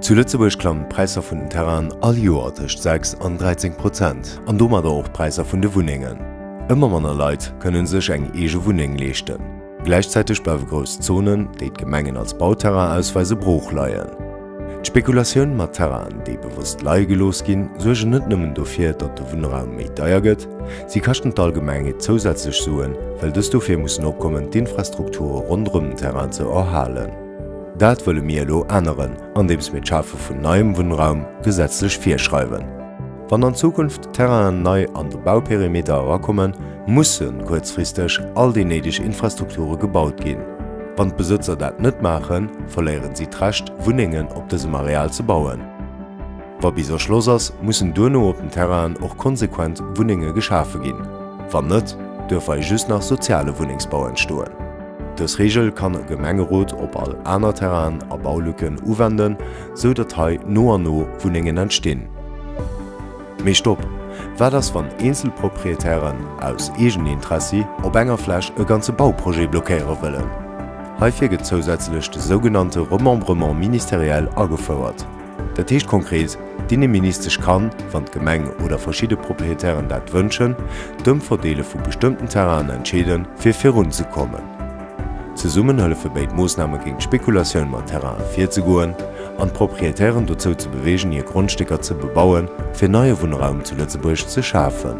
Zu Lëtzebuerg klammen d'Präisser vun den Terrainen all Joer tëscht 6 an 13 Prozent an domadder och d'Präisser vun de Wunnengen. Ëmmer manner Leit kënne sech eng eege Wunneng leeschten. Gläichzäiteg bleiwe grouss Zonen, déi d'Gemengen als Bauterrain ausweisen, brooch leien. D'Spekulatioun mat Terrainen, déi bewosst leie gelooss ginn, suergen net nëmmen dofir, datt de Wunnraum méi deier gëtt, Si kaschten d'Allgemeng et zousätzlech Suen, well dës dofir mussen opkommen, d'Infrastrukture ronderëm den Terrain ze erhalen. Dat wëlle mir elo änneren, andeems mir d'Schafe vun neiem Wunnraum gesetzlech virschreiwen. Wann an Zukunft Terrainen nei an de Bauperimeter erakommen, musse kuerzfristeg all déi néideg Infrastrukture gebaut ginn. Wann d'Besëtzer dat net maachen, verléieren si d'Recht, Wunnengen op dësem Areal ze bauen. Wa bis Erschloss ass, mussen duerno op den Terrain'en och konsequent Wunnenge geschafe ginn. Wann net, duerf hei just nach soziale Wunnengsbau entstoen. Dës Reegel kann e Gemengerot op all aner Terrain'en a Baulücken uwenden, sou datt hei no an no Wunnengen entstinn. Mee stopp! Wat ass wann eenzel Proprietären, aus Eegenintressi, op enger Fläch e ganze Bauprojet blockéiere wëllen? Heifir gëtt zousätzlech de sougenannte Remembrement ministériel agefouert. Dat heescht konkret, d'Inneministesch kann, wann d'Gemeng oder verschidde Proprietären dat wënschen, d'Ëmverdeele vu bestëmmten Terrainen entscheede fir virunzekommen. Zesummen hëllefe béid Moossname géint d'Spekulatioun mat Terraine virzegoen an d'Proprietären dozou ze beweegen hir Grondstécker ze bebauen, fir neie Wunnraum zu Lëtzebuerg ze schafen.